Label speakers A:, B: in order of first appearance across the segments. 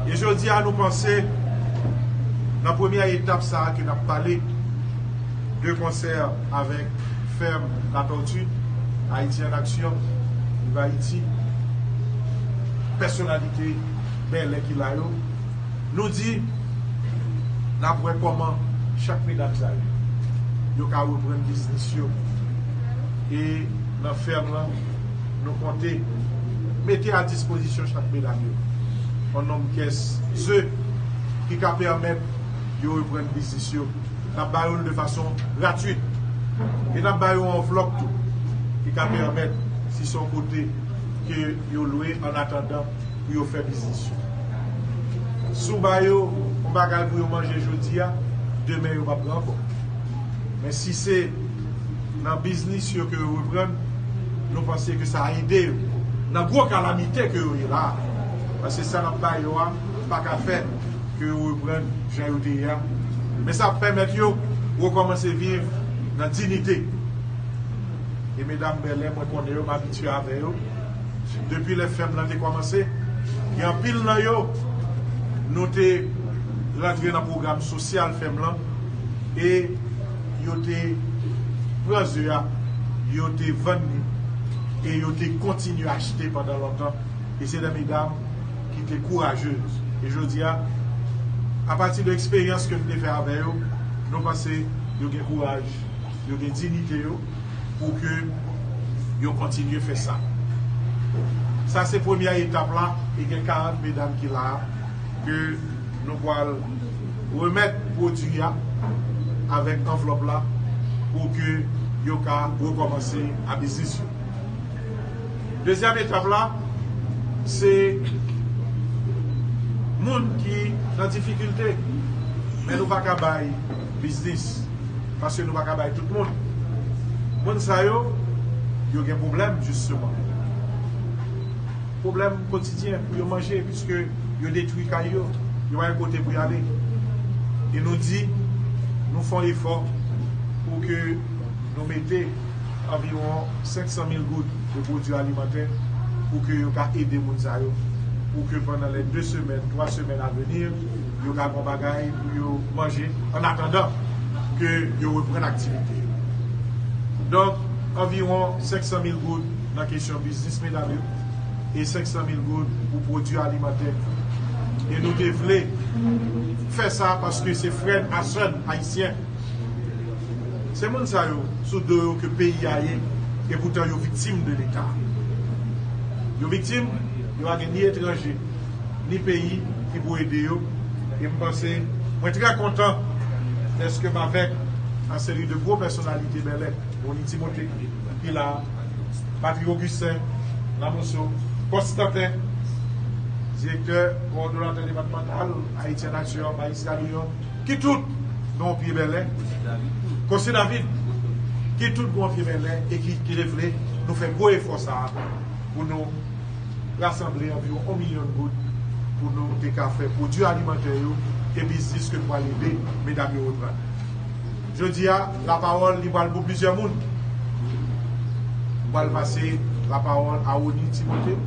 A: E jodi a nou panse nan premyè etap sa ke nap pale de konsè avèk Ferme la tortue, Haïti en action, Viv Ayiti, pèsonalite Bèlè ki la yo, nou di nap wè kòman chak medam sa yo, yo ka reprann biznis yo e nan ferme lan. nou konte mete a dispozisyon chak medam yo on nonb pyès ze ki ka pèmèt yo reprann biznis yo. N ap ba yo l de fason gratwit. E n ap ba yo anvlòp tou ki ka pèmèt si se on kote ke yo lwe an atandan pou yo fè biznis yo. Si w ba yo on bagay pou yo manje jodi a, demen yo p ap gen ankò. Men si se. nan biznis yo ke yo reprann, nou panse ke sa ede yo nan gwo kalamite ke yo ye la a, paske sa n ap ba yo a pa ka fè ke yo reprann jan yo te ye a, men sa ap pèmèt yo rekòmanse viv nan dinite. E medam Bèlè mwen konnen yo, m abitye avè yo depi lè fèm lan te kòmanse, gen anpil nan yo nou te rantre nan pwogram sosyal fèm lan e yo te pran ze a, yo te vann li e yo te kontinye achte pandan lontan e se de medam ki te kourajez e jodi a apati de eksperyans ke m te fè avè yo nou panse yo gen kouraj, yo gen dinite yo pou ke yo kontinye fè sa sa se premyè etap la e gen 40 medam ki la a ke. Nou pwal remèt pwodwi a avèk anvlòp la pou ke yo ka rekòmanse a biznis yo. Dezyèm etap la se moun ki nan difikilte men nou pa ka bay biznis paske nou pa ka bay tout moun. Moun sa yo, yo gen pwoblèm jisteman. Pwoblèm kotidyen pou yo manje piske yo detwi kay yo, yo pa gen kote pou y ale. E nou di nou fon efò pou ke nou mete anviwon 500 mil goud de pwodui alimantè pou ke yo ka ede moun sa yo, pou ke pandan lè 2 semèn, 3 semèn a veni, yo ka gon bagay pou yo manje an atandan ke yo reprann aktivite yo. Donk anviwon 500 mil goud nan kesyon. Nan biznis medam yo e 500 mil goud pou pwodui alimantè. E nou te vle fè sa paske se frè n a sè n ayisyen. Se moun sa yo sou do yo ke peyi a ye e poutan yo viktim de leta. Yo viktim, yo pa gen ni etranje, ni peyi ki pou ede yo e m panse mwen trè kontan dèske m avèk yon seri de gwo pèsonalite Bèlè, Rony Timothé ki la a. Patrick Augustin Lamoso, Kòs Tantè, Direktè Kowòdonatè Depatmantal Ayiti an Aksyon an, Malis Camillon, ki tout gen yon pye Bèlè, Kòsye David, ki tout gen yon pye Bèlè e ki te vle nou fè gwo efò sa a pou nou rasanble anviwon yon milyon goud pou nou te ka fè pwodui alimantè yo e biznis ke nou pral ede medam yo reprann. Jodi a, lapawòl li pral pou plizyè moun. M pral pase lapawòl a Rony Timothé.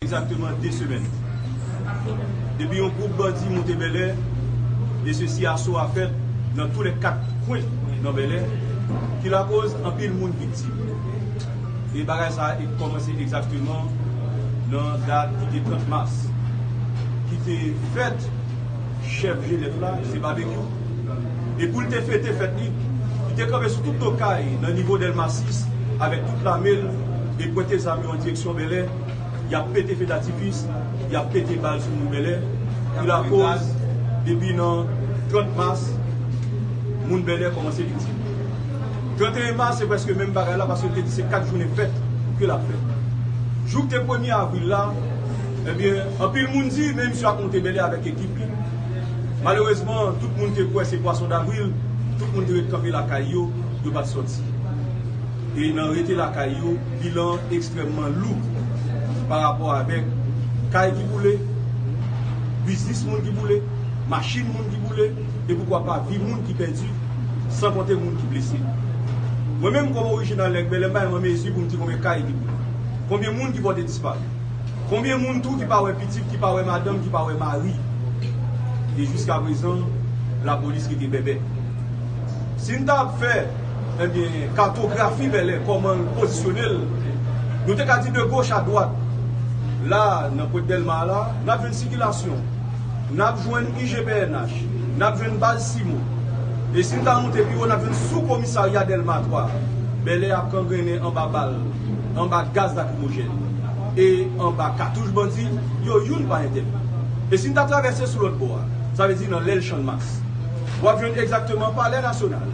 A: Egzakteman
B: 2 semèn depi yon gwoup bandi monte Bèlè e sesi aso a fèt nan tou lè 4 kwen nan Bèlè ki lakoz anpil moun viktim e bagay sa a kòmanse egzakteman nan dat ki te 30 mas ki te fèt chèf jenèf la se Babekyou. e pou l te fete fèt li, li te kanpe sou tout do kay nan nivo Dèlma 6 avèk tout lame l e pwente zam yo an direksyon Bèlè, y ap pete fe datifis, y ap pete bal sou moun Bèlè ki lakoz depi nan 30 mas moun Bèlè kòmanse viktim. 31 mas se prèske menm bagay la paske l te di se 4 jounen fèt ke l ap fè. Jou k te premye avril la, ebyen anpil moun di men misye ap monte Bèlè avèk ekip li. Malerezman, tout moun te kwè se pwason davril, tout moun te ret kanpe lakay yo, yo pa t sòti. E nan rete lakay yo, bilan an ekstrèmman lou parapò avèk kay ki boule, biznis moun ki boule, machin moun ki boule e poukwa pa vi moun ki pèdi, san konte moun ki blese. Mwen menm kòm orijinal Nèg Bèlè m pa menm an mezi pou m di konbyen kay ki boule, konbyen moun ki pòte disparu. Konbyen moun tou ki pa wè pitit ki pa wè madanm ki pa wè mari e jiska prezan la polis rete bèbè sin ta ap fè ebyen katografi bèlè kòmanl pozisyonel nou te ka di de goch a dwat la nan pwent dèlma a la nap jwenn sikilasyon nap jwenn ijpnh nap jwenn baz simo e sin ta monte piwo nap jwenn sou komisarya dèlma 3 bèlè ap kangrennen anba bal. anba gaz lakrimojèn e anba katouch bandi yo youn pa entèvni. E si n ta travèse sou lòt bò a, sa vle di nan lèl Channmas, w ap jwenn egzakteman Palè Nasyonal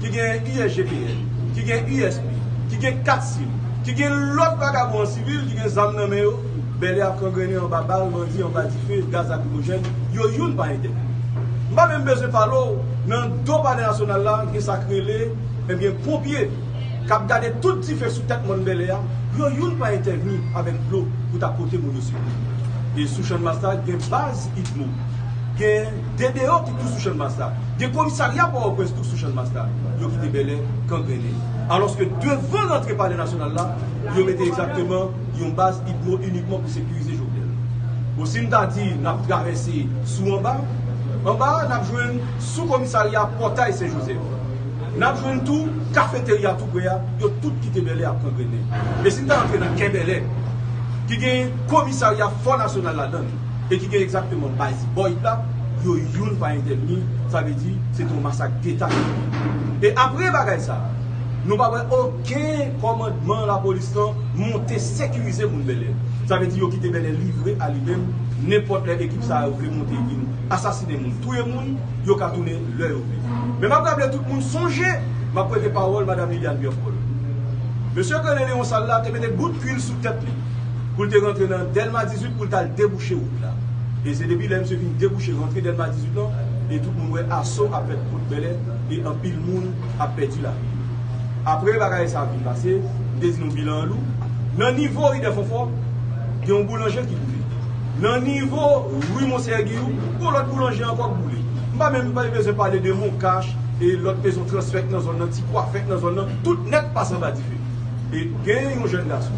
B: ki gen USGPN, ki gen USP, ki gen kat sim, ki gen lòt vagabon an sivil ki gen zam nan men yo, Bèlè ap krangrennen anba bal bandi, anba dife, gaz lakrimojèn, yo youn pa entèvni. M pa menm bezwen pale w nan do Palè Nasyonal la gen sa k rele, enben, ponpye. k ap gade tout dife sou tèt mòn Bèlè a, yo youn pa entèvni avèk dlo pou ta pote moun yo sekou. E sou Channmas la, gen baz Udmo, gen DDO ki tou sou Channmas la, gen komisarya Pòòprens tou k sou Channmas la. Yo kite Bèlè kangrennen. Alòske devan rantre Palè Nasyonal la, yo mete egzakteman yon baz Udmo inikman pou sekirize Jovenel. Bon, si n ta di n ap travèse sou anba, anba a n ap jwenn sou komisarya Pòtay Sen Jozèf. N ap jwenn tou Kafeterya tou pre a, yo tout kite Bèlè ap pran grennen. E si n ta antre nan kè Bèlè, ki gen komisarya Fò Nasyonal ladan l e ki gen egzakteman baz Boyd la, yo youn pa entèvni, sa vle di se te yon masak deta ki te fèt. E apre bagay sa a, nou pa wè oken kòmandman lapolis lan monte sekirize moun Bèlè. Sa vle di yo kite Bèlè livre a li menm, nenpòt lè ekip sa yo vle monte vin asasinen moun, touye moun, yo ka tounen. lè yo vle. Men m ap raple tout moun sonje m ap prete pawòl Madam Liliane Berthold. Mesye Colin Léon Sall la te mete bout kuil sou tèt li pou l te rantre nan Dèlma 18 pou l t al debouche wout la. E se depi lè misye fin debouche rantre Dèlma 18 lan e tout moun wè aso ap fèt Pòt Bèlè e anpil moun ap pèdi lavi yo. Apre bagay sa fin pase, m te di nou bilan an lou. Nan nivo Ri Dèfònfò, gen yon boulanje ki boule. Nan nivo Rue Monseyè Giyou, gon lòt boulanje ankò k boule. M pa menm bezwen pale de Moncash e lòt mezon transfèt nan zòn nan, ti kwafèt nan zòn nan, tout nèt pase anba dife. E gen yon jèn gason,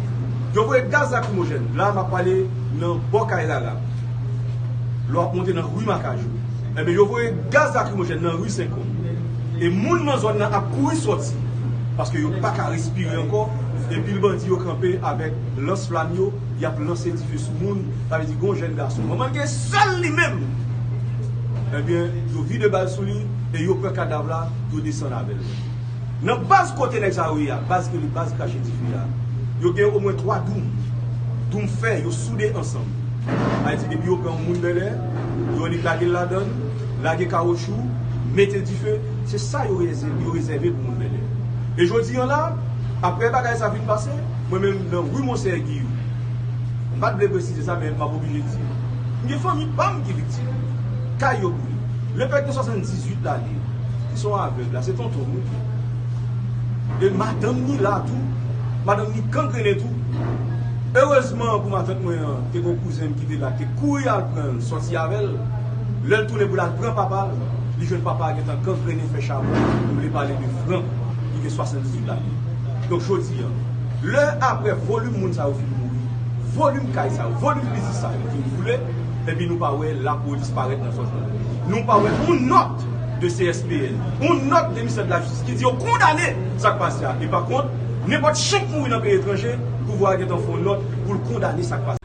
B: yo voye gaz lakrimojèn, la a m ap pale nan bò kay Lala, lè w ap monte nan Rue Makajou. Enben yo voye gaz lakrimojèn nan Rue Senkon. E moun nan zòn nan ap kouri sòti, paske yo pa ka respire ankò, e pil bandi yo kanpe avèk lans flam yo, y ap lanse dife sou moun, sa vle di gen yon jèn gason manman l gen sèl li menm, ebyen yo vide bal sou li e yo pran kadav la yo desann avè l nan baz kote nèg sa yo ye a, baz rele baz krache dife a, yo gen omwen 3 doum, doum fè yo soude ansanm, sa vle di depi yo pran yon moun Bèlè, yo annik lage l ladan l, lage kawotchou, mete dife, se sa yo rezève pou moun Bèlè. E jodi an la, aprè bagay sa fin pase. Mwen menm nan wi Monseyè Giyou. M pa t vle presize sa men m ap oblije di. M gen fanmi pa m ki viktim. Kay yo boule. Lepè gen 78 lane ki son avèg la se tonton m tou. E madanm ni la tou. Madanm ni kangrenen tou. Erezman pou matant mwen an te gen yon kouzen m ki te la te kouri al pran l sòti avè l. Lè l tounen pou l al pran papa l, li jwenn papa a gentan kangrenen fè chabon. M vle pale de Frank ki gen 78 lane. Donk jodi. peyi an. Lè aprè volim moun sa yo fin mouri, volim kay sa yo, volim biznis sa yo fin boule, epi nou pa wè lapolis parèt nan zòn nan. Nou pa wè yon nòt de CSPN, yon nòt de Ministè de la Justice ki di yo kondane sa k pase a. E pa kont, nenpòt chen k mouri nan peyi etranje, pouvwa a gentan fè yon nòt pou l kondane sa k pase a.